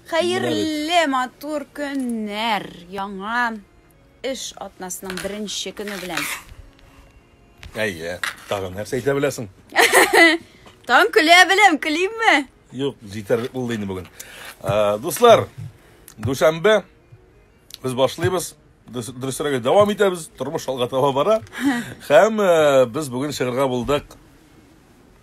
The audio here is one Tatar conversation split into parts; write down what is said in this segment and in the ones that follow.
Хәерле матур көннәр! Яңа эш атнасының беренче көне белән. Әйе, тагын нәрсә әйтә беләсең? Тагын көлә беләм, көлимме? Юк, җитәр булды инде бүген. Дуслар, дүшәмбе без башлыйбыз. Дөресрәге дәвам итәбез. Тормыш алга таба бара. Һәм без бүген чыгарга булдык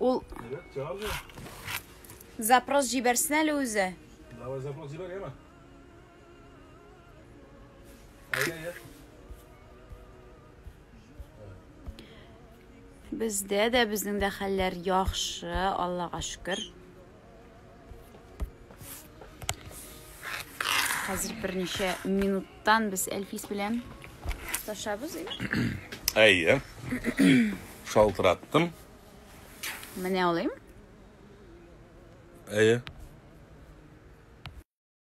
Ул запрос җибәрсен әле үзе. Давай запрос җибәр, яме. Бездә дә безнең дә хәлләр яхшы, Аллага шөкер. Хәзер берничә минуттан без Әлфис белән ташабыз. Әйе. Шалтыраттым. Менә алыйм. Әйе.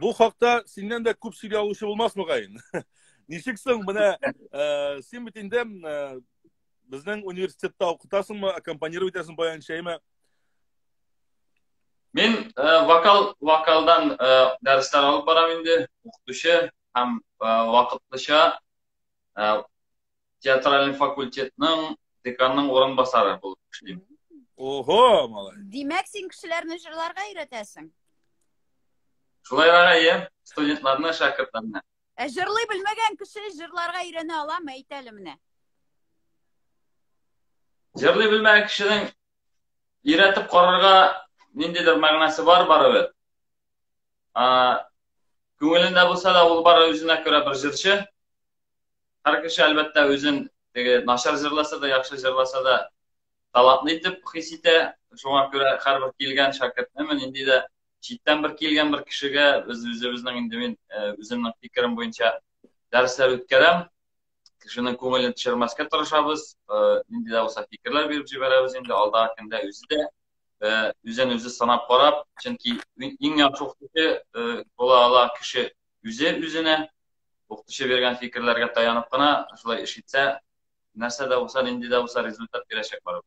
Бу хакта синнән дә күп сөйли алучы булмас мөгаен. Ничек соң менә э, син бит инде э, безнең университетта укытасыңмы, аккомпанировать итәсең баян чәйме? Мин э, вокал вокалдан дәресләр алып барам инде, укытучы һәм вакытлыча театральный факультетның деканның урынбасары булып эшлим. Ого, малай. Димәк, син кешеләрне җырларга өйрәтәсең. Шулай гына, иә, студентларны, шәкертләрне. Ә җырлый белмәгән кеше җырларга өйрәнә аламы, әйт әле менә. Җырлый белмәгән кешенең өйрәтеп карарга ниндидер мәгънәсе бар барыбер. Күңелендә булса да, ул бары үзенә күрә бер җырчы. Һәр кеше әлбәттә үзен теге начар җырласа да, яхшы җырласа да талантлы итеп хис итә. Шуңа күрә һәрбер килгән шәкертне мен инде дә читтән бер килгән бер кешегә без үзебезнең инде мин э, үземнең фикерем буенча дәресләр үткәрәм. Кешенең күңелен төшермәскә тырышабыз. Э, нинди дә булса фикерләр биреп җибәрәбез инде алда көндә үзе дә э, үзен үзе санап карап, чөнки иң яхшы укытучы була ала кеше үзе үзенә укытучы биргән фикерләргә таянып кына шулай эш итсә нәрсә дә булса нинди дә булса результат бирәчәк барып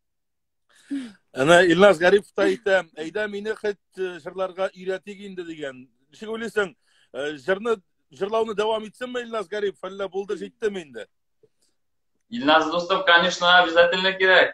әнә илназ гарипов та әйтә әйдә мине хет э, җырларга өйрәтик инде дигән ничек уйлыйсың э, җырны җырлауны дәвам итсенме илназ гарипов әллә булды җиттеме инде илназ дустым конечно обязательно кирәк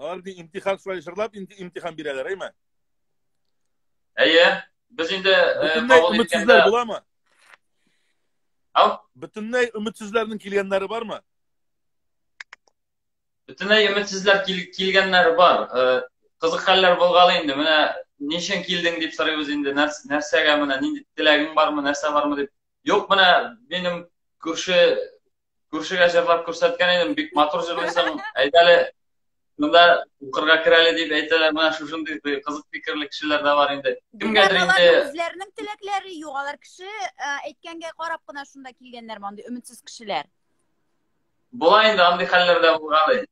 Алар бит имтихан шулай җырлап имти- имтихан бирәләр, әйме? Әйе, без инде э, Бөтенләй кабул иткәндә... өметсезләр буламы? Ау? Бөтенләй өметсезләрнең килгәннәре бармы? Бөтенләй өметсезләр кил, килгәннәр бар. Э, Кызык хәлләр булгалы инде. Менә ничен килдең дип сорыйбыз инде. Нәрс, нәрсәгә менә нинди теләгең бармы, нәрсә бармы дип. Юк, менә минем күрше Күршегә җырлап күрсәткән идем, бик матур җырлыйсың. Әйт әле, монда укырга кер әле дип әйтәләр, менә шушындый кызык фикерле кешеләр дә бар инде. Кемгәдер инде үзләренең теләкләре юк, алар кеше әйткәнгә карап кына шунда килгәннәр мондый өметсез кешеләр. Була инде андый хәлләр дә булган.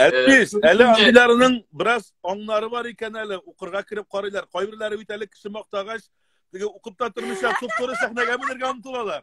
Әтпис, әле андыйларының бераз аңнары бар икән әле, укырга кереп карыйлар. Кайберләре бит әле кеше мактагач, теге укып та тормыйча, туп-туры сәхнәгә менергә омтылалар.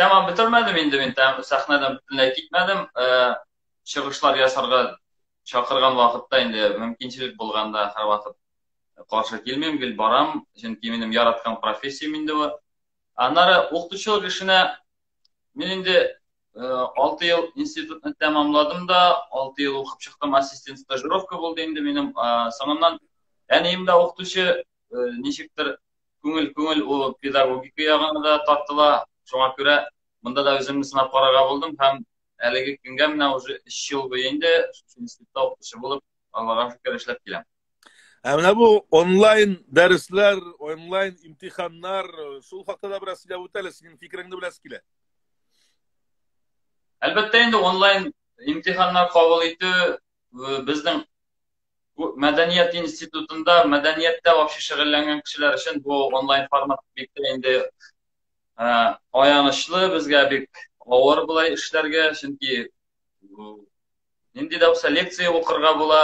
Тәмам бетермәдем инде мин, сәхнәдән бөтенләй китмәдем. Чыгышлар ясарга чакырган вакытта инде мөмкинчелек булганда һәрвакыт каршы килмим, гел барам, чөнки минем яраткан профессиям инде бу. Аннары укытучылык эшенә мин инде 6 ел институтны тәмамладым да, 6 ел укып чыктым, ассистент стажировка булды инде минем. Соңыннан әнием дә укытучы, ничектер күңел күңел ул педагогика ягына да тартыла. Шуңа күрә монда да үземне сынап карарга булдым һәм әлеге көнгә менә уже 3 ел буе инде институтта укытучы булып, Аллага шөкер эшләп киләм. Ә менә бу онлайн дәресләр, онлайн имтиханнар, шул хакта да бераз сөйләп үтәле, синең фикереңне беләс килә. Әлбәттә инде онлайн имтиханнар кабул итү э, безнең мәдәният институтында мәдәнияттә вообще шөгыльләнгән кешеләр өчен бу онлайн формат бик тә инде ә, аянычлы безгә бик авыр болай эшләргә чөнки нинди дә булса лекция укырга була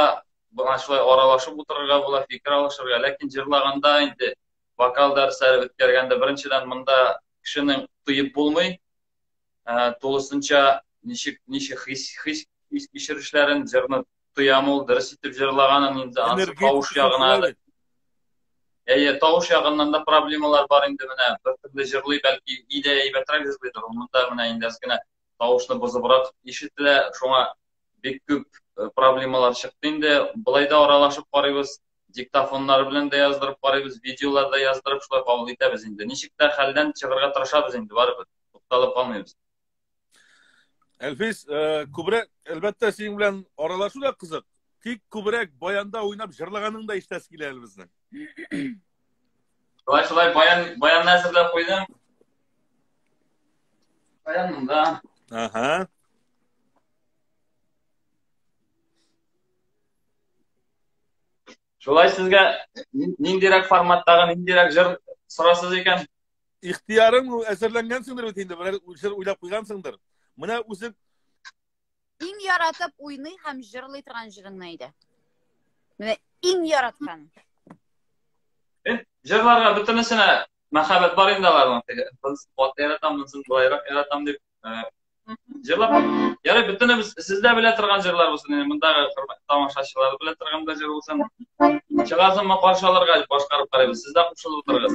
буга шулай аралашып утырырга була фикер алышырга ләкин җырлаганда инде вокал дәресләре үткәргәндә беренчедән монда кешенең тоеп булмый ә, тулысынча ничек ничек хис хис хис кичерешләрен җырны тоям ул дөрес итеп җырлаганын инде ансы тавыш ягына да әйе тавыш ягыннан да проблемалар бар инде менә бер төрле җырлый бәлки идә әйбәтрәк җырлыйдыр монда менә инде кенә тавышны бозыбрак ишетелә шуңа бик күп проблемалар чыкты инде былай да аралашып карыйбыз диктофоннар белән дә яздырып карыйбыз, видеолар да яздырып шулай кабул итәбез инде. Ничек тә хәлдән чыгарга тырышабыз инде барыбер. Тукталып калмыйбыз. Әлфис, э, күбрәк, әлбәттә, синең белән аралашу да кызык. Тик күбрәк баянда уйнап җырлаганың да ишетәсе килә әле безнең. Шулай шулай баян баянны әзерләп куйдым. Баян монда. Ага. Шулай сезгә ниндирәк форматтагы, ниндирәк җыр сорасыз икән? Ихтиярың әзерләнгәнсеңдер бит инде, берәр җыр уйлап куйгансыңдыр. Менә үзең иң яратып уйный һәм җырлый торган җырыңны әйдә. Менә иң яраткан. Э, җырларга бөтенесенә мәхәббәт бар инде аларның. Теге кыз ват яратам, монсын былайрак яратам дип. жырлап ярый бүтүнебез сиз дә белә торган жырлар булсын инде мындагы хөрмәтле тамашачылар белә торган да жыр булсын чыгасынмы каршы алырга дип башкарып карыйбыз сез дә кушылып утырыгыз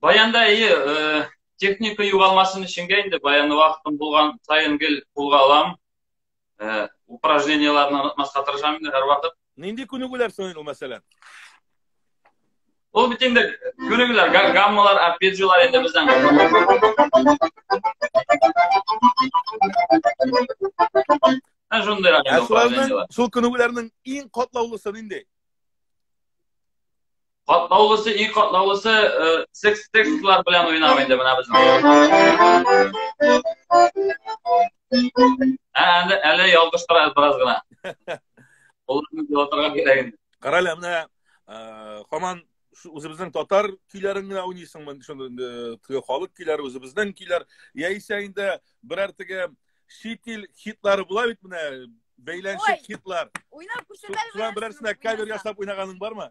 Баянда әйе, э, техника югалмасын өченгә инде баян вакытым булган сайын гел кулга алам. Э, упражнениеләрне онытмаска тырышам инде һәрвакыт. Нинди күнегүләр соң ул мәсәлән? Ул бит инде күнегүләр, гаммалар, арпеджиолар инде бездән. Ә шундый рәхмәт. Ә шуларның, шул күнегүләрнең иң катлаулысы нинди? Катлаулысы, и катлаулысы э, секс текстлар белән уйнау инде менә безнең. Ә, әле, әле ялгыштырабыз бераз гына. Оларны ялгыштырырга кирәк инде. Кара әле, менә э, хаман үзебезнең татар көйләрен генә уйныйсыңмы? Шундый э, теге халык көйләре үзебезнең көйләр. Яисә инде берәр теге чит ил хитлары була бит менә бәйләнчек хитлар. Уйнап күрсәтәле. Шулар берәрсенә кавер ясап уйнаганың бармы?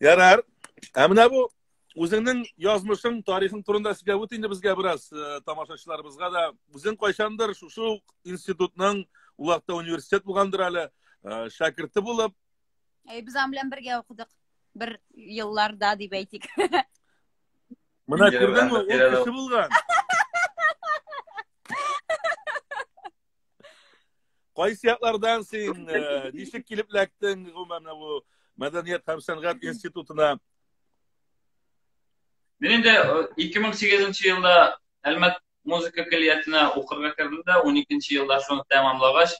Ярар. Ә менә бу үзеңнең язмышың, тарихың турында сөйләп үт инде безгә бераз э, тамашачыларыбызга да. Үзең кайчандыр шушы ук институтның улакта университет булгандыр әле, э, шәкерте булып. Әй, без аның белән бергә укыдык. Бер елларда дип әйтик. Менә күрдеңме, ул кеше булган. Кайсы яклардан син э, ничек килеп эләктең гомумән менә бу мәдәният һәм сәнгать институтына? Мин инде 2008 э, елда Әлмәт музыка көллиятенә укырга кердем дә, 12 елда шуны тәмамлагач,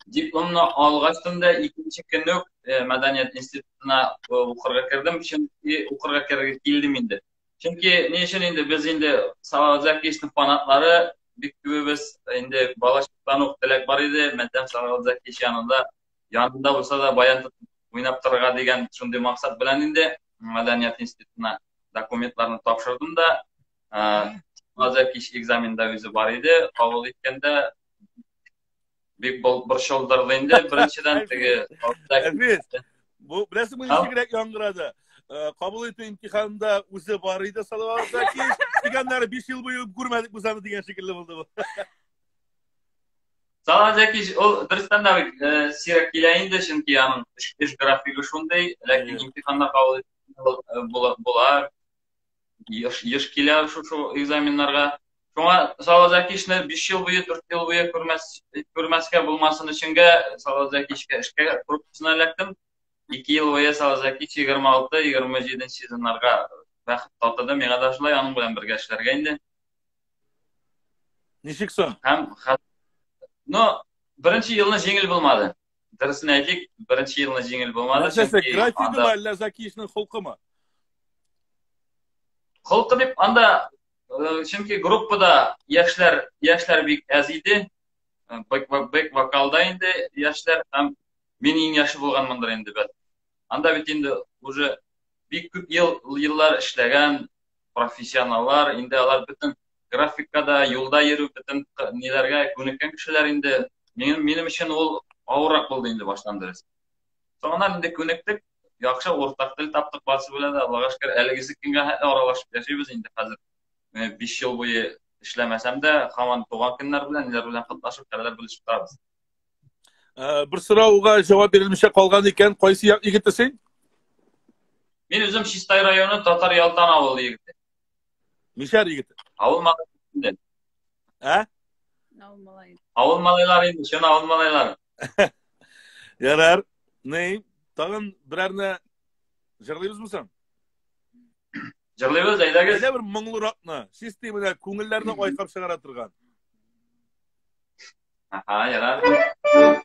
дипломны алгачтан да икенче көнне үк э, мәдәният институтына укырга кердем, чөнки укырга керергә килдем инде. Чөнки ни өчен инде без инде Салават Закиевичның фанатлары бик күбебез инде балачактан ук теләк бар иде, мәдәм Салават Закиевич янында янында булса да баян уйнап торырга дигән шундый максат белән инде мәдәният институтына документларны тапшырдым да Салават Закиевич экзаменда үзе бар иде, кабул иткәндә бик борчылдырды инде беренчедән теге бу беләсеңме ничегрәк яңгырады кабул итү имтиханында үзе бар иде салават закиш дигәннәре биш ел буе күрмәдек без аны дигән шикелле булды бу салават закиш ул дөрестән дә бик сирәк килә инде чөнки аның эш графигы шундый ләкин имтиханнар кабул була еш, еш килә шушы экзаменнарга. Шуңа Салазакишны 5 ел буе, 4 ел буе күрмәс, күрмәскә булмасын өченгә Салазакишкә эшкә корпусына эләктем. 2 ел буе Салазакиш 26-27 сезоннарга бәхет татыды. Миңа да шулай аның белән бергә эшләргә инде. Ничек соң? Һәм, но беренче елны җиңел булмады. дөресен әйтик беренче елны җиңел булмады нәрсәсе графигымы әллә закишның холкымы холкы дип анда чөнки группада яшьләр яшьләр бик әз иде бэк бэк вокалда инде яшьләр һәм мин иң яше булганмындыр инде бәлки анда бит инде уже бик күп ел еллар эшләгән профессионаллар инде алар бөтен графикка да, юлда йөрү, бөтен ниләргә күнеккән кешеләр инде. Минем, минем өчен ул авыррак булды инде баштан дөрес. Соңыннан инде күнектек, яхшы уртак тел таптык барсы белән дә, Аллага шөкер, әлеге сикенгә хәтле аралашып яшибез инде хәзер. 5 э, ел буе эшләмәсәм дә, хаман туган көннәр белән, ниләр белән катлашып, хәлләр белешеп торабыз. Э, бер сорауга җавап бирелмичә калган икән, кайсы егете син? Мин үзем Чистай районы Татар Ялтан авылы егете. Мишәр егет. Авыл малайлары. Ә? Авыл малайлары. Авыл малайлары инде, чын авыл малайлары. Ярар. Ни? Тагын берәрне җырлыйбызмы соң? Җырлыйбыз, әйдәгез. Әйдә бер моңлыракны, системада күңелләрне айкап чыгара торган. Aha, yarar.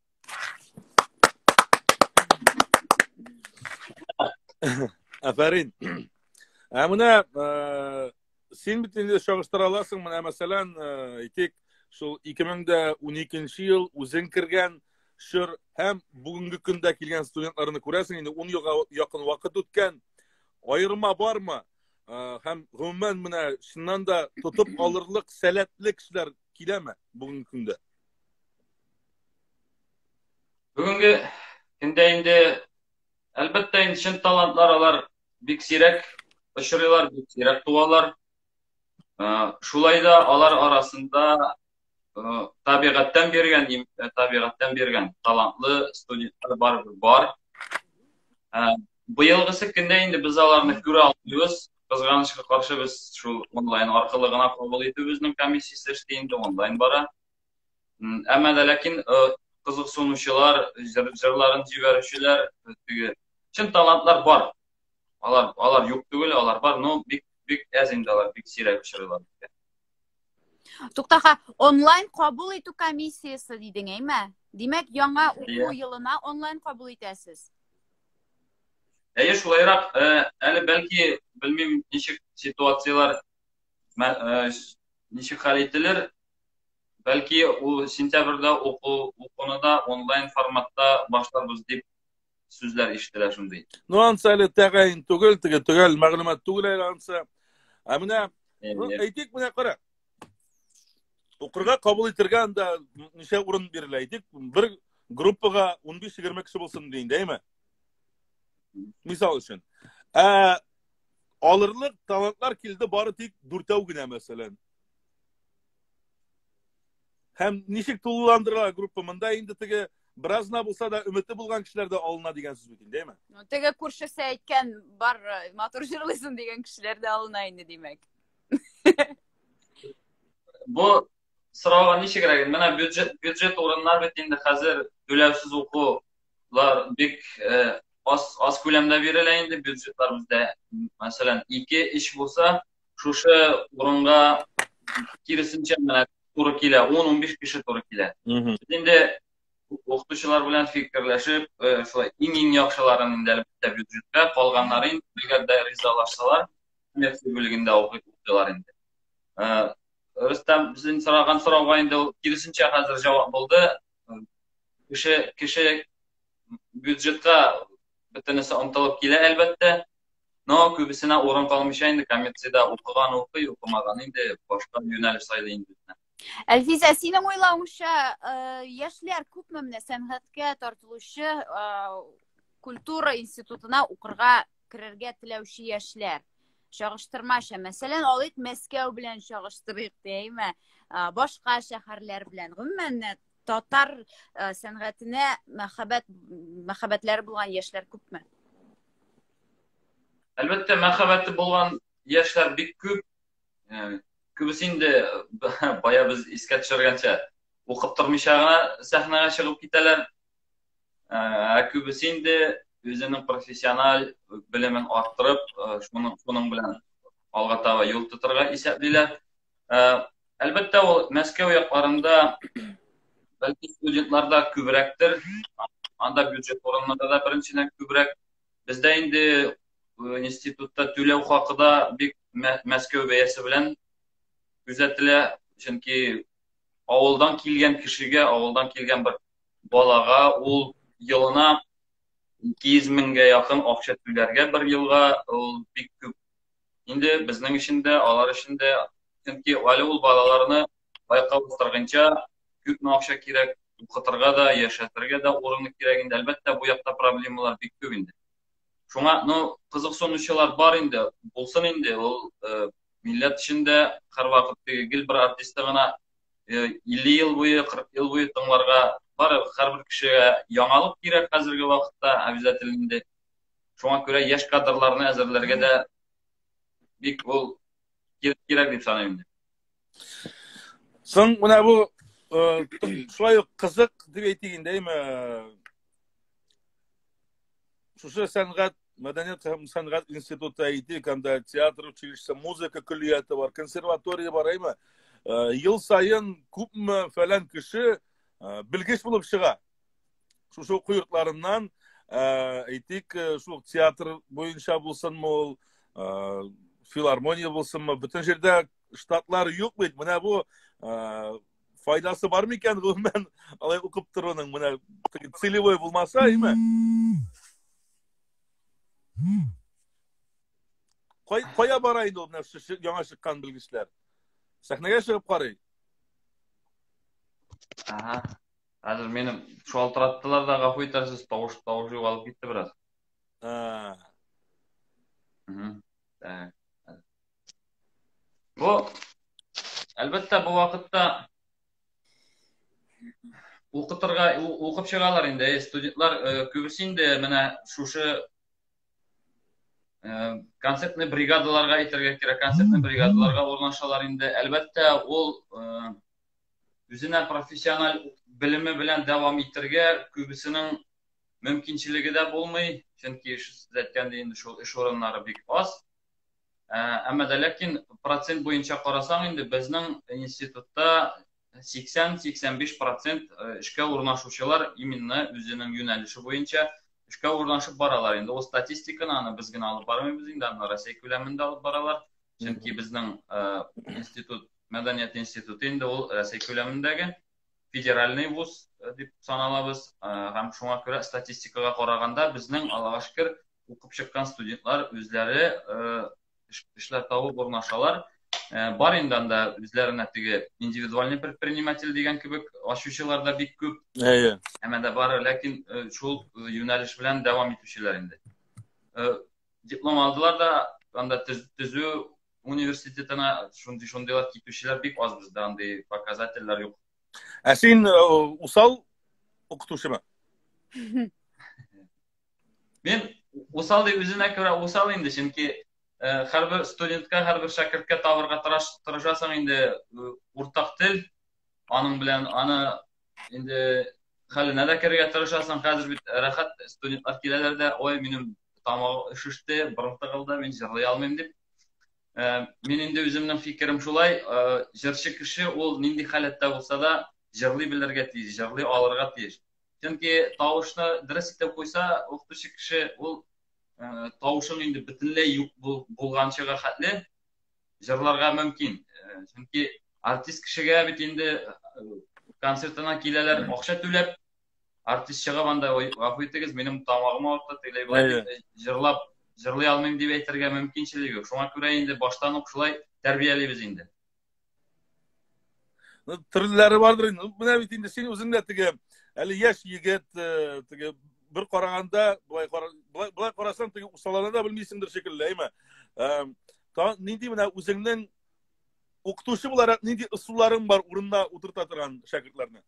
Афәрин. Ә менә э, син бит инде чагыштыра аласың, менә мәсәлән, э, әйтик, шул 2012 ел үзең кергән шыр һәм бүгенге көндә килгән студентларны күрәсең, инде 10 елга якын вакыт үткән. Аерма бармы? Э, һәм гомумән менә шуннан да тотып алырлык сәләтле кешеләр киләме бүгенге көндә? Бүгенге көндә инде әлбәттә инде чын талантлар алар бик сирәк очрыйлар, бик сирәк туалар. Э, шулай да алар арасында э, табигатьтән биргән, э, табигатьтән биргән талантлы студентлар бар бар. Быелгысы көндә инде без аларны күрә алмыйбыз. Кызганычка каршы без шул онлайн аркылы гына кабул итү безнең комиссиясе эшли инде онлайн бара. Әмма дә ләкин кызыксынучылар, җырларын җибәрүчеләр, теге чын талантлар бар. Алар алар юк түгел, алар бар, но бик бик әз инде алар, бик сирәк очрыйлар. Туктаха, онлайн кабул итү комиссиясе дидең, әйме? Димәк, яңа уку елына онлайн кабул итәсез. Әйе, шулайрак, әле бәлки, белмим, ничек ситуацияләр ничек хәл ителер, Бәлки ул сентябрьдә уку укуны да онлайн форматта башларбыз дип сүзләр ишетелә шундый. Ну ансы әле тәгаен түгел, теге төгәл мәгълүмат түгел әле ансы. Ә менә ну, әйтик менә кара. Укырга кабул итергә анда ничә урын бирелә әйтик, бер группага 15-20 кеше булсын дигән, әйме? Мисал өчен. Ә алырлык талантлар килде бары тик дүртәү генә мәсәлән. Һәм ничек тулыландырыла группа? Монда инде теге бераз гына булса да өмете булган кешеләр дә алына дигән сүз бит инде, әйме? Ну, теге күршесе әйткән бар э, матур җырлыйсың дигән кешеләр дә алына инде, димәк. Бу сорауга ничегрәк? Менә бюджет бюджет урыннар бит инде хәзер түләүсез укулар бик э, аз аз күләмдә бирелә инде бюджетлар бездә. Мәсәлән, 2 3 булса, шушы урынга киресенчә менә туры килә, 10-15 кеше туры килә. Без инде укытучылар белән фикерләшеп, шулай иң-иң яхшыларын инде әлбәттә бюджетка, калганнары инде әгәр дә ризалашсалар, коммерция бүлегендә укытучылар инде. Рөстәм, безнең сораган сорауга инде ул киресенчә хәзер җавап булды. Кеше кеше бюджетка бөтенесе омтылып килә, әлбәттә. Но күбесенә урын калмыйча инде коммерциядә укыган укый, укымаган инде башка юнәлеш сайлый инде. Әлфизә, синең уйлавыңча, э, яшьләр күпме менә сәнгатькә тартылучы э, культура институтына укырга керергә теләүче яшьләр? Чагыштырмача, мәсәлән, алыйк Мәскәү белән чагыштырыйк, дәйме? Э, башка шәһәрләр белән. Гомумән, татар сәнгатенә мәхәббәт мәхәббәтләре булган яшьләр күпме? Әлбәттә, мәхәббәте булган яшьләр бик күп. Күбесе инде бая без искә төшергәнчә укып тормыйча гына сәхнәгә чыгып китәләр. Ә күбесе инде үзенең профессиональ белемен арттырып, шуның шуның белән алга таба юл тотарга исәплиләр. Әлбәттә, ул Мәскәү якларында бәлки студентларда күбрәктер. Анда бюджет урыннарда да беренчедән күбрәк Бездә инде э, институтта түләү хакы да бик Мәскәү бәясе белән күзәтелә, чөнки авылдан килгән кешегә, авылдан килгән бер балага ул елына 200 меңгә якын акча түләргә бер елга ул бик күп. Инде безнең өчен дә, алар өчен дә, чөнки әле ул балаларны байкап утыргынча күпме акча кирәк укытырга да яшәтергә дә урыны кирәк инде әлбәттә бу якта проблемалар бик күп инде шуңа ну кызыксынучылар бар инде булсын инде ул э, милләт эчендә һәрвакыт теге гел бер артистны гына э, илле ел буе кырык ел буе тыңларга бар һәрбер кешегә яңалык кирәк хәзерге вакытта обязательно инде шуңа күрә яшь кадрларны әзерләргә дә бик ул кирәк дип саныйм инде соң менә бу шулай ук кызык дип әйтик инде әйме шушы сәнгать мәдәният һәм сәнгать институты әйтик анда театр училище музыка көллияте бар консерватория бар әйме ел сайын күпме фәлән кеше белгеч булып чыга шушы уку йортларыннан әйтик шул театр буенча булсынмы ул филармония булсынмы бөтен җирдә штатлар юк бит менә бу файдасы бар микән гомумән алай укып торуның менә целевой булмаса әйме кая бара инде ул менә яңа чыккан белгечләр сәхнәгә чыгып карый ага Хәзер минем шалтыраттылар да, гафу итәрсез, тавыш тавыш югалып китте бераз. Ә. Бу әлбәттә бу вакытта укытырга укып чыгалар инде э, студентлар э, күбесе инде менә шушы э, концертный бригадаларга әйтергә кирәк концертный бригадаларга урнашалар инде әлбәттә ул үзенә профессиональ белеме белән дәвам итергә күбесенең мөмкинчелеге дә булмый, чөнки сез әйткәндәй инде шул эш урыннары бик аз. Ә, әмма дә ләкин процент буенча карасаң инде безнең институтта 80-85 процент э, эшкә урнашучылар именно үзенең юнәлеше буенча эшкә урнашып баралар. Инде ул статистиканы аны без генә алып бармыйбыз инде, аны Россия күләмендә алып баралар. Чөнки безнең э, институт Мәдәният институты инде ул Рәсәй күләмендәге федеральный вуз э, дип саналабыз э, һәм шуңа күрә статистикага караганда безнең Аллага шөкер укып чыккан студентлар үзләре э, эшләр табып урнашалар. Бар инде анда үзләренә теге индивидуальный предприниматель дигән кебек ачучылар да бик күп. Әйе. Әмма да бар, ләкин шул юнәлеш белән дәвам итүчеләр инде. Диплом алдылар да анда төзү университетына шундый шундыйлар китүчеләр бик аз бездә андый показательләр юк ә син э, усал укытучымы мен усал дип үзенә күрә усал инде чөнки һәрбер э, студентка һәрбер шәкерткә табырга тырышасың инде э, уртак тел аның белән аны Инде хәленә дә керергә тырышасың. Хәзер бит рәхәт студентлар киләләр дә, ой, минем тамагы өшеште, борын тыгылды, мин җырлый алмыйм дип. Э, мин инде үземнең фикерем шулай, э, җырчы кеше ул нинди халәттә булса да җырлый белергә тиеш, җырлый алырга тиеш. Чөнки тавышны дөрес итеп куйса, укытучы кеше ул э, тавышың инде бөтенләй юк булганчыга хәтле җырларга мөмкин. Э, чөнки артист кешегә бит инде э, концертына киләләр акча түләп, артист чыгып анда гафу итегез, минем тамагым авырта, тегеләй болай җырлап җырлый алмыйм дип әйтергә мөмкинчелеге юк. Шуңа күрә инде баштан ук шулай тәрбиялибез инде. Ну, төрлеләре бардыр инде. Ну, менә бит инде син үзең дә теге әле яшь егет, э, теге бер караганда, былай былай карасаң, теге усаларны да белмисеңдер шикелле, әйме? Э, та нинди менә үзеңнең укытучы буларак нинди ысулларың бар урынына утырта торган шәкертләрне?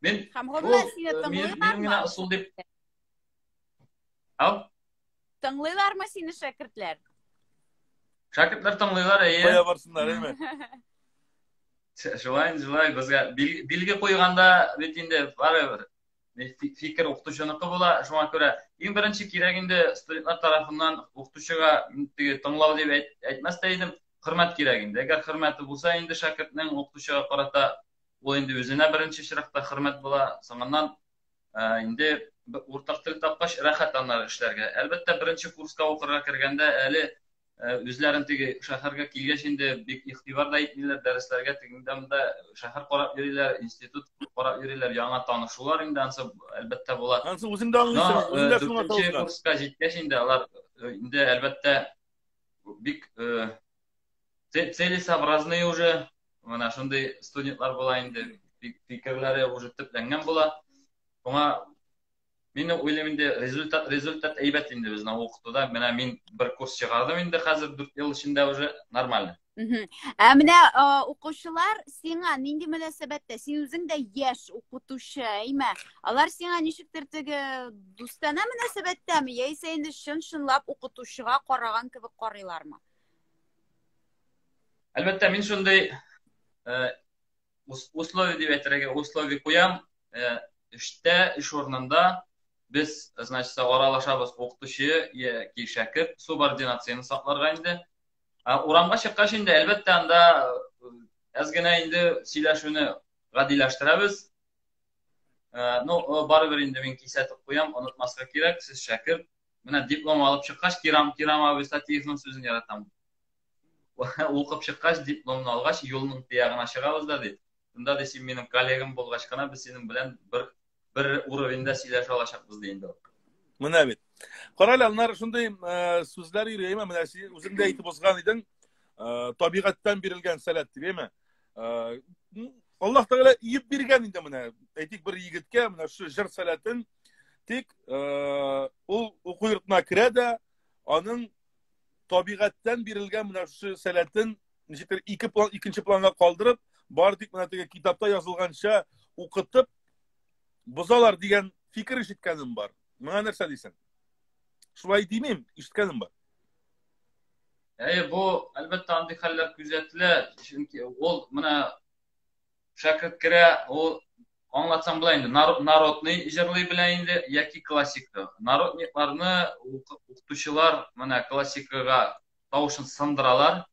Мин Һәм һәммә сине тыңлый. Мин генә ысул дип. Ау? Тыңлыйлармы сине шәкертләр? Шәкертләр тыңлыйлар, әйе. Кая барсыннар, әйме? Шулай, шулай, безгә билге куйганда бит инде барыбер фикер укытучыныкы була, шуңа күрә иң беренче кирәк инде студентлар тарафыннан укытучыга теге тыңлау дип әйтмәс тә идем, хөрмәт кирәк инде. Әгәр хөрмәте булса инде шәкертнең укытучыга карата ул инде үзенә беренче чиратта хөрмәт була, соңыннан Ә, инде уртак тел тапкач, рәхәт аннары эшләргә. Әлбәттә, беренче курска укырга кергәндә әле э, үзләрен теге шәһәргә килгәч инде бик игътибар да итмиләр, дәресләргә тегендә-монда шәһәр карап йөриләр, институт карап йөриләр, яңа танышулар инде ансы әлбәттә була. Ансы үзең дә аңлыйсың, э, үзең дә шуңа курска җиткәч инде алар э, инде әлбәттә бик Целесообразный уже, менә шундый студентлар була инде, фикерләре уже төпләнгән була. Шуңа мин уйлыйм инде результат результат әйбәт инде безнең укытуда. Менә мин бер курс чыгардым инде хәзер 4 ел эчендә уже нормально. Ә менә укучылар сиңа нинди мөнәсәбәттә? Син үзең дә яшь укытучы, әйме? Алар сиңа ничектер теге дустана мөнәсәбәттәме? Яисә инде чын-чынлап укытучыга караган кебек карыйлармы? Әлбәттә, мин шундый э, условия дип әйтергә, условия куям. Э, эштә, эш урынында без, значит, аралашабыз укытучы яки шәкерт субординацияне сакларга инде. Ә урамга чыккач инде, әлбәттә, анда әз э, генә инде сөйләшүне гадиләштерәбез. Ну, барыбер инде мин кисәтеп куям, онытмаска кирәк, сез шәкерт, Менә диплом алып чыккач, Кирам, Кирам абый Статиевның сүзен яратам. Укып чыккач, дипломны алгач, юлның тиягына чыгабыз да ди. Шунда ди, син минем коллегам булгач кына без синең белән бер бер уровеньда сөйләшә алачакбыз ди инде. Менә бит. Карале, аннары шундый э, сүзләр йөри, әйме? Менә син үзең дә әйтеп узган идең, э, табигатьтән бирелгән сәләт дип, әйме? Э, Аллаһ Тәгалә иеп биргән инде менә. Әйтик, бер егеткә менә шу җыр сәләтен Тик э, ул уку йортына керә дә, аның табигатьтән бирелгән менә шушы сәләтен ничектер ике план икенче планга калдырып бар тик менә теге китапта язылганча укытып бозалар дигән фикер ишеткәнем бар моңа нәрсә дисең шулай димим ишеткәнем бар әйе бу әлбәттә андый хәлләр күзәтелә чөнки ул менә шәкерт керә, ул аңлатсам була инде, народный җырлый белә инде яки классика. Народникларны укытучылар менә классикага тавышын сындыралар,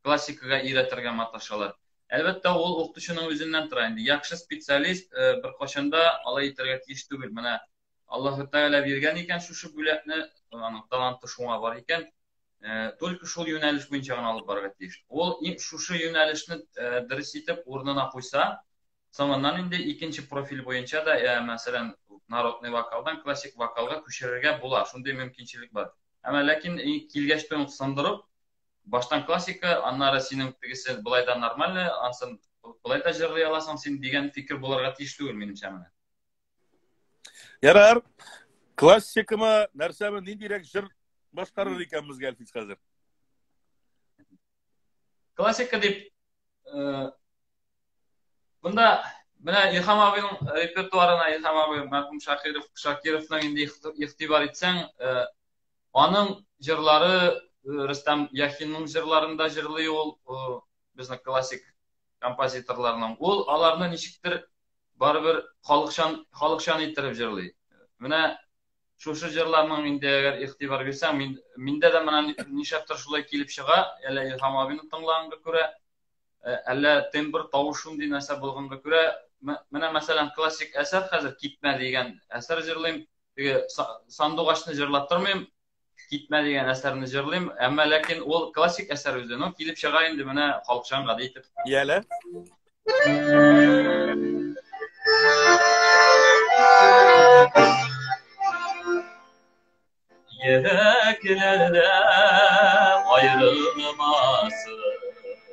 классикага өйрәтергә маташалар. Әлбәттә, ул укытучының үзеннән тора инде. Яхшы специалист э, бер кашында алай итәргә тиеш түгел. Менә Аллаһ Тәгалә биргән икән шушы бүләкне, аның таланты шуңа бар икән, э, только шул юнәлеш буенча гына алып барырга тиеш. Ул шушы юнәлешне э, дөрес итеп урынына куйса, соңыннан инде икенче профиль буенча да, ә, э, мәсәлән, народный вокалдан классик вокалга күчерергә була, шундый мөмкинчелек бар. Әмма ләкин килгәч тә сындырып, баштан классика, аннары синең тегесе былай да нормально, ансын былай да җырлый аласың син дигән фикер булырга тиеш түгел, минемчә менә. Ярар. Классикамы, нәрсәме, ниндирәк җыр башкарыр икәнбез Гәлфис хәзер? Классика дип э, Монда менә Илһам абыйның репертуарына Илһам абый мәрхүм Шакиров Шакировның инде ихтибар итсәң, э, аның җырлары э, Рөстәм Яхинның җырларында җырлый ул безнең классик композиторларның. Ул аларны ничектер барыбер халыкчан халыкчан иттереп җырлый. Менә шушы җырларның инде әгәр игътибар бирсәң, мин миндә дә менә нишләптер шулай килеп чыга, әллә Илһам абыйны тыңлаганга күрә, э, әллә тембр, тавыш шундый нәрсә булганга күрә, менә мәсәлән классик әсәр хәзер Китмә дигән әсәр җырлыйм, теге сандугачны җырлап тормыйм, Китмә дигән әсәрне җырлыйм, әмма ләкин ул классик әсәр үзе, ну килеп чыга инде менә халыкчан гади итеп. Яле. Йөрәкләрдә аерылмасын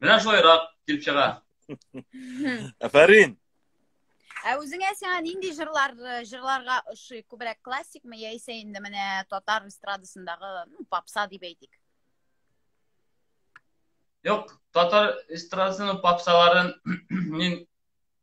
Менә шулайрак килеп чыга. Афәрин. Ә үзеңә сиңа нинди җырлар э, җырларга ошый? Күбрәк классикмы яисә инде менә татар эстрадасындагы, ну, попса дип әйтик? Юк, татар эстрадасының попсаларын мин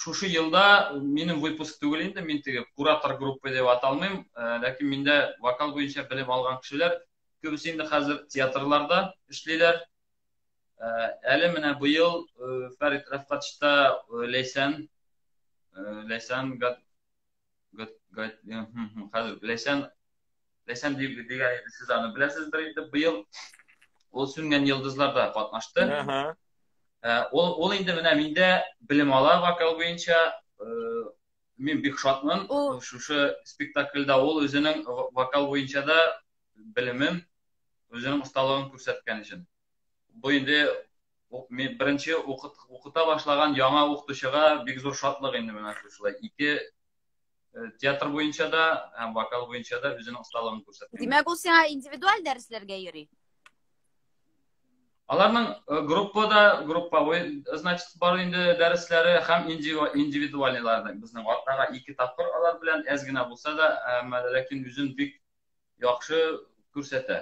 шушы елда минем выпуск түгел инде, мин теге куратор группы дип аталмыйм, э, ләкин миндә вокал буенча белем алган кешеләр күбесе инде хәзер театрларда эшлиләр. Э, әле менә быел э, Фәрит Рәфкатшта Ләйсән Ләйсән хәзер ләйсән ләйсән дигән иде сез аны беләсездер инде быел ул сүнгән йолдызларда катнашты ул ул инде менә миндә белем ала вокал буенча мин бик шатмын шушы спектакльдә ул үзенең вокал буенча да белемен үзенең осталыгын күрсәткән өчен бу инде беренче укыта башлаган яңа укытучыга бик зур шатлык инде менә шушылай ике э, театр буенча да һәм вокал буенча да үзенең осталыгын күрсәтте димәк ул сиңа индивидуаль дәресләргә йөри аларның э, группада групповой э, значит бар инде дәресләре һәм индивидуальныйлар безнең атнага ике тапкыр алар белән әз генә булса да ләкин үзен бик яхшы күрсәтә.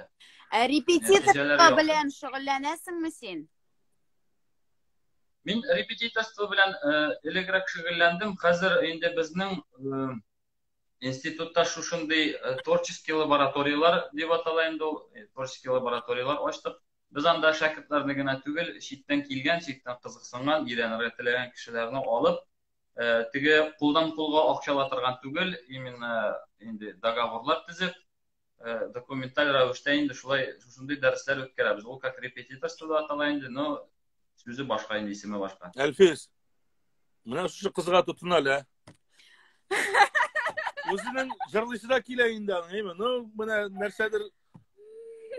Ә репетиторство белән шөгыльләнәсеңме син? Мин репетиторство белән э, элегрәк шөгыльләндем. Хәзер инде безнең э, институтта шушындый э, творческий лабораториялар дип атала инде ул, творческий лабораториялар ачтык. Без анда шәкертләрне генә түгел, читтән килгән, читтән кызыксынган, өйрәнергә теләгән кешеләрне алып, э, теге кулдан кулга акчала торган түгел именно инде договорлар төзеп э, документаль рәвештә инде шулай шушындый дәресләр үткәрәбез ул как репетиторство да атала инде но сүзе башка инде исеме башка әлфис менә шушы кызга тотын әле үзенең җырлыйсы да килә инде аның әйме ну менә нәрсәдер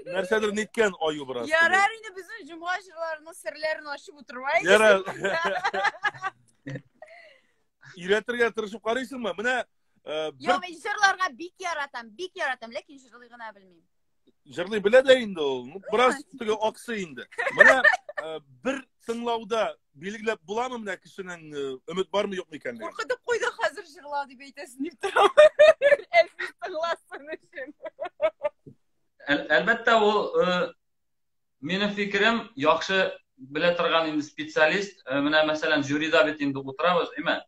нәрсәдер ниткән аю бераз ярар инде безнең җомга җырларының серләрен ачып утырмайбыз ярар өйрәтергә тырышып карыйсыңмы менә Йо, мин җырларга бик яратам, бик яратам, ләкин җырлый гына белмим. Җырлый белә дә инде ул. Бераз теге аксы инде. Менә бер тыңлауда Билгеләп буламы менә кешенең э, өмет бармы юкмы икәнлеген? Куркытып куйды хәзер җырла дип әйтәсен дип торам. Әлфис тыңласын өчен. Әлбәттә ул э, минем фикерем яхшы белә торган инде специалист. Э, менә мәсәлән жюрида бит инде утырабыз, әмма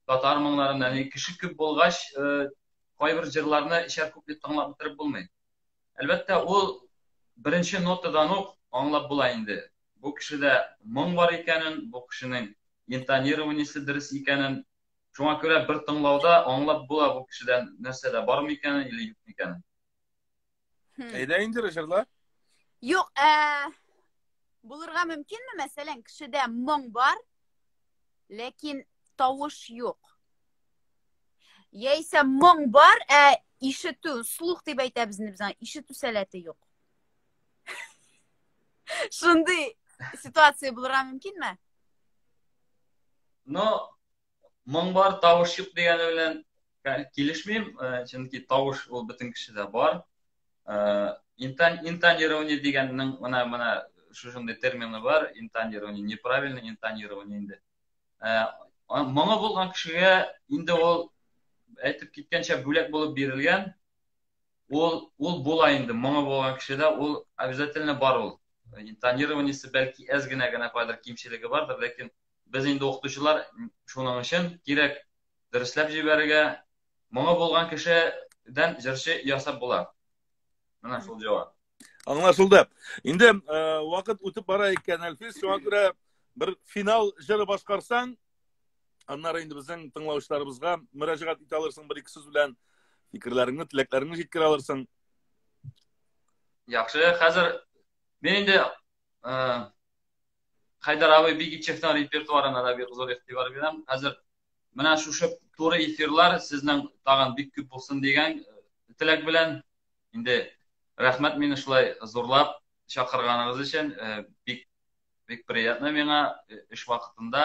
татар моңнарында кеше күп булгач, кайбер җырларны ишәр күп дип тыңлап бетереп булмый. Әлбәттә, ул беренче нотадан ук аңлап була инде. Бу кешедә моң бар икәнен, бу кешенең интонированиесе дөрес икәнен. Шуңа күрә бер тыңлауда аңлап була бу кешедә нәрсә дә бар микәнен или юк микәнен. Әйдә инде җырла. Юк, ә булырга мөмкинме, мәсәлән, кешедә моң бар, ләкин тавыш юк. Яисә моң бар, ә ишетү, слух дип әйтәбез инде без ишетү сәләте юк. Шундый ситуация булырга мөмкинме? Ну, моң бар, тавыш юк дигәне белән килешмим, э, чөнки тавыш ул бөтен кешедә бар. Э, интан интонирование дигәннең менә менә шушындый термины бар, интонирование неправильно, интонирование инде. Ә, моңы булган кешегә инде ул әйтеп киткәнчә бүләк булып бирелгән. Ул ул була инде, моңы булган кешедә ул обязательно бар ул. Интонированиесе бәлки әз генә генә кайдыр кимчелеге бардыр, ләкин без инде укытучылар шуның өчен кирәк дәресләп җибәрергә. Моңы булган кешедән җырчы ясап була. Менә шул җавап. Аңлашылды. Инде э, вакыт үтеп бара икән, Әлфис, шуңа күрә бер финал җыры башкарсаң, аннары инде безнең тыңлаучыларыбызга мөрәҗәгать итә алырсың бер ике сүз белән фикерләреңне, теләкләреңне җиткерә алырсың. Яхшы, хәзер мин инде э, Хайдар абый Бигичевтан репертуарына да бик зур игътибар бирәм. Хәзер менә шушы туры эфирлар сезнең тагын бик күп булсын дигән э, теләк белән Инде рәхмәт мине шулай зурлап чакырганыгыз өчен. Э, бик бик приятно миңа э, эш вакытында.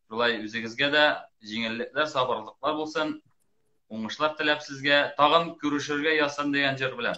Шулай үзегезгә дә җиңеллекләр, сабырлыклар булсын. Уңышлар теләп сезгә. Тагын күрешергә язсын дигән җыр белән.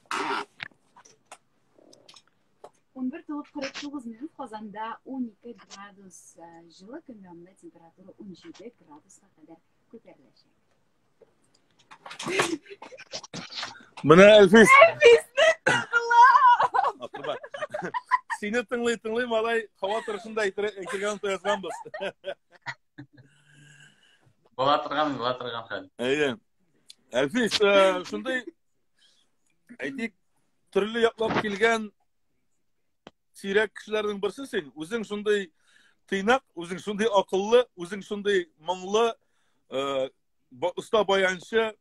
Он бер тулып кырык тугыз минут Казанда 12 градус э, җылы көн янында температура 17 градуска кадәр күтәреләчәк. Менә Әлфис. Әлфисне тыңла. Акырба. Сине тыңлый, тыңлый, малай, һава торышын да әйтергә онытып язганбыз. Була торган, була торган хәл. Әйе. Әлфис, э, шундый Әйтик, төрле яклап килгән сирәк кешеләрнең берсе син. Үзең шундый тыйнак, үзең шундый акыллы, үзең шундый моңлы, э, оста баянчы,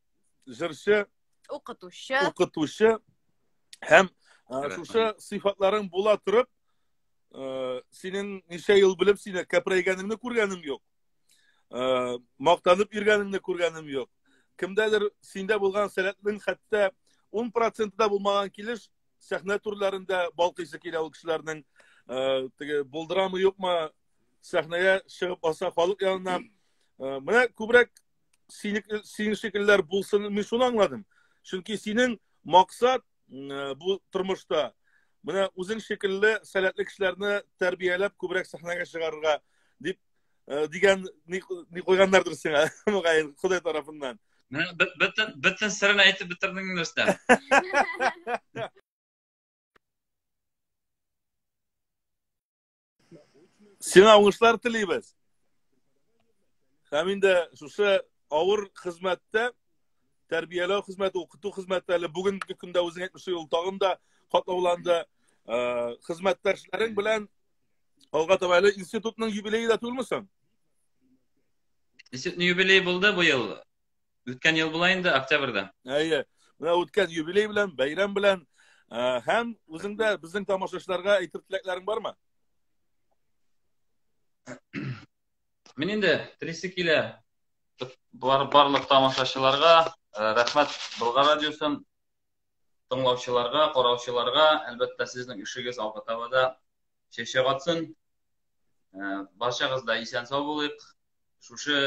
җырчы, укытучы. Укытучы һәм э, шушы сыйфатларың була торып, э, синең ничә ел белеп сине кәпрәйгәнеңне күргәнем юк. Э, мактанып йөргәнеңне күргәнем юк. Кемдәдер синдә булган сәләтнең хәтта 10% да булмаган килеш сәхнә түрләрендә балкыйсы килә ул кешеләрнең э, теге булдырамы юкмы сәхнәгә чыгып баса халык янына. Э, менә күбрәк синең шикелләр булсын, мин шуны аңладым. Чөнки синең максат бу тормышта менә үзең шикелле сәләтле кешеләрне тәрбияләп күбрәк сәхнәгә чыгарырга дип э, дигән ни куйганнардыр сиңа мөгаен ходай тарафыннан бөтен бөтен серен әйтеп бетердең рөстәм сиңа уңышлар телибез һәм инде шушы авыр хезмәттә тәрбияләү хезмәте укыту хезмәте әле бүгенге көндә үзең әйтмешли ул тагын да катлауланды хезмәттәшләрең белән Алга таба әле институтның юбилее да түгелме соң? Институтның юбилее булды бу ел. Үткән ел була инде октябрьдә. Әйе. Менә үткән юбилей белән, бәйрәм белән э, һәм үзеңдә безнең тамашачыларга әйтер теләкләрең бармы? Мин инде телисе килә бар, барлык тамашачыларга э, рәхмәт Болгар радиосын тыңлаучыларга, караучыларга, әлбәттә, сезнең эшегез алга таба да чәчәк атсын. Э, барчагыз да исән сау булыйк. Шушы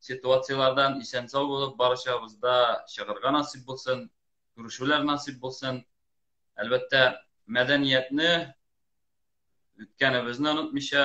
ситуацияләрдән исән сау булып, барчабыз да чыгарга насыйп булсын, күрешүләр насыйп булсын. Әлбәттә, мәдәниятне үткәнебезне онытмыйча,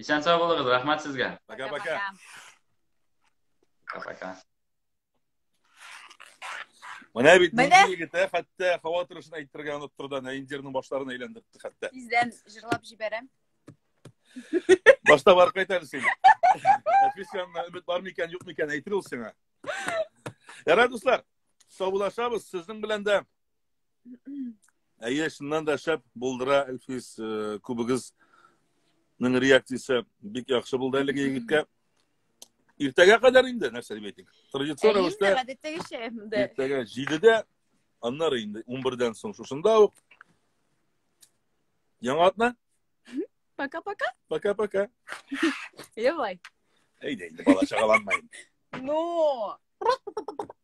Исән сау булыгыз, рәхмәт сезгә. Пока-пока. Пока-пока. Менә бит Менә. нинди егет, ә, хәтта һава торышын әйтергә оныттыр да, Наиндирның башларын әйләндертте хәтта. Тиздән җырлап җибәрәм. Башта барып кайтарыз син. Әфис янына өмет бар микән, юк микән әйтер ул сиңа. Ярар, дуслар, саубулашабыз. Сезнең белән дә Әйе, чыннан да шәп булдыра Әлфис э, күбегезнең реакциясе бик яхшы булды әлеге егеткә. Иртәгә кадәр инде нәрсә дип әйтик. Традицион рәвештә гадәттәгечә инде. Иртәгә 7-дә, аннары инде 11-дән соң шушында ук. Яңа атна. Пока-пока. Пока-пока. Давай. Әйдә инде бала чагаланмай. Ну.